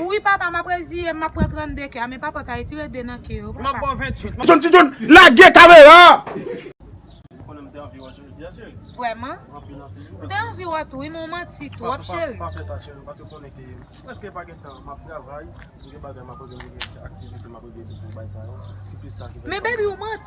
Wi papa map reziyem map pran 32 ke a men papa ta etire 2 nan ke yo papa. Tijoun tijoun lage kamera a. Vrèman? M te anvi wè tou wi men w manti twòp cheri. Men baby ou manti.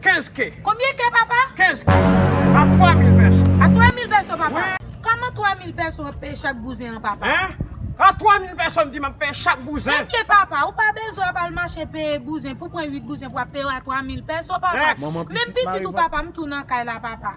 15 ke. Konbyen ke papa? 15 ke. A 3000 pèso. A 3000 pèso papa. Wi. Koman 3000 pèso ap peye chak bouzen an papa? Hein? A 3000 pèso m di map peye chak bouzen. Ebyen papa ou pa bezwen ap al mache peye bouzen pou pran 8 bouzen pou ap peye yo a 3000 pèso papa. Hein? Manman pitit mare vant. Menm pitit ou papa m tou nan kay la papa.